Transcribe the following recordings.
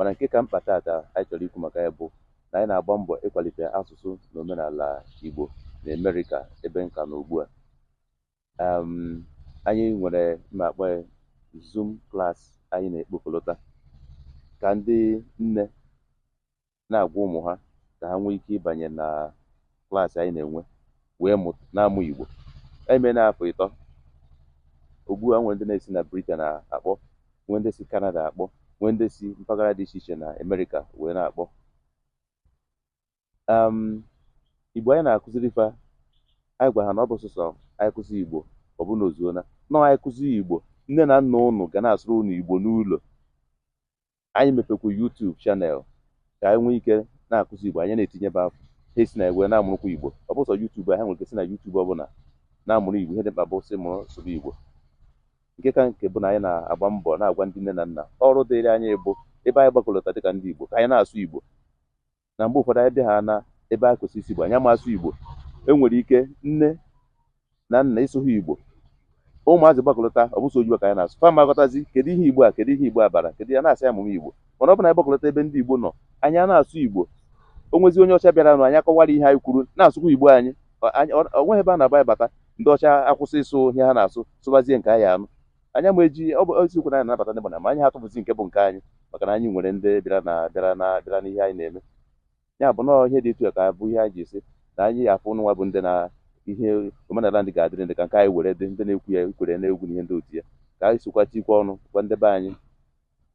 mana nke ka mkpa taata anyị chọrọ ikwu maka ya bụ na anyị na-agba mbọ ịkwalite asụsụ na omenala Igbo na Amerịka ebe nka na ugbu a um, anyị nwere ma akpọ ya Zoom class anyị na-ekpokọlọta ka ndị nne na-agwa ụmụ ha ka ha nwee ike ịbanye na class anyị na-enwe wee mụ na-amụ Igbo e meena afọ ịtọ ugbu a nwee ndị na-esi na Britain akpọ nwee ndị si Canada akpọ nwee ndị si mpaghara dị iche iche na Amerịka wee na-akpọ um, Igbo anyị na-akụziri fa anyị gwa ha na ọ bụ sọsọ anyị kụzi Igbo ọ bụ na o zuona nọọ anyị kụzi Igbo nne na nna ụnụ ga na-asụrụ ụnụ Igbo n'ụlọ anyị mepekwu YouTube channel ka anyị nwee ike na-akụzi Igbo anyị na-etinyebe afọ ha esi na igwe na-amụrụkwa Igbo ọ bụ sọ YouTube ha nwere ike si na YouTube ọbụla na-amụrụ Igbo ihe dị mkpa bụ sị mụrụ sụba Igbo nke ka nke bụ na anyị na-agba mbọ na-agwa ndị nne na nna ọrụ dịrị anyị bụ ebe anyị gbakọlọta dịka ndị Igbo ka anyị na-asụ Igbo na mgbe ụfọdụ anyị bịa ha na ebe a kwesịrị ịsụ Igbo anyị ama asụ Igbo e nwere ike nne na nna ịsụ ha Igbo ụmụazị gbakọlọta ọ bụ sọ oyibo ka anyị na-asụ fa maghọtazi kedu ihe Igbo a kedu ihe Igbo a bara kedu ya na-asị amụma Igbo mana ọ bụ na anyị gbakọlọta ebe ndị Igbo nọ anyị a na-asụ Igbo o nwezi onye ọcha bịaranụ anyị akọwara ihe anyị kwuru na-asụkwa Igbo anyị Ọ- anyị- ọ ọ nweghị ebe a na-aba anyị bata ndị ọcha akwụsị ịsụ ihe ha na-asụ sụbazie nke anyị anụ Anyị ama eji ọ bụ eziokwu na anyị na-anabata ndị mmadụ ma anyị ha atụfuzi nke bụ nke anyị maka na anyị nwere ndị bịara na bịara na bịara n'ihe anyị na-eme ya bụ nọọ ihe dị etu a ka bụ ihe anyị ji asị na anyị afụ ụnụ nwa bụ ndị na ihe omenala ndị ga-adịrị ndị ka nke anyị were dị ndị na-ekwu ya kwere na egwu na ihe ndị otu ya ka anyị sokwa tikwa ọnụ gwa ndị be anyị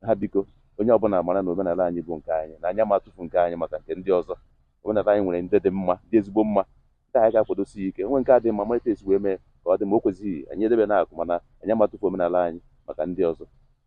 ha biko onye ọbụla mara na omenala anyị bụ nke anyị na anyị ama atụfu nke anyị maka nke ndị ọzọ omenala anyị nwere ndị dị mma dị ezigbo mma ndị anyị ga-akwadosi ya ike nwee nke adịghị mma mara etu e si wee mee ka ọ dị mma o kwezighị anyị edebe na akụkụ mana anyị ama atụfu omenala anyị maka ndị ọzọ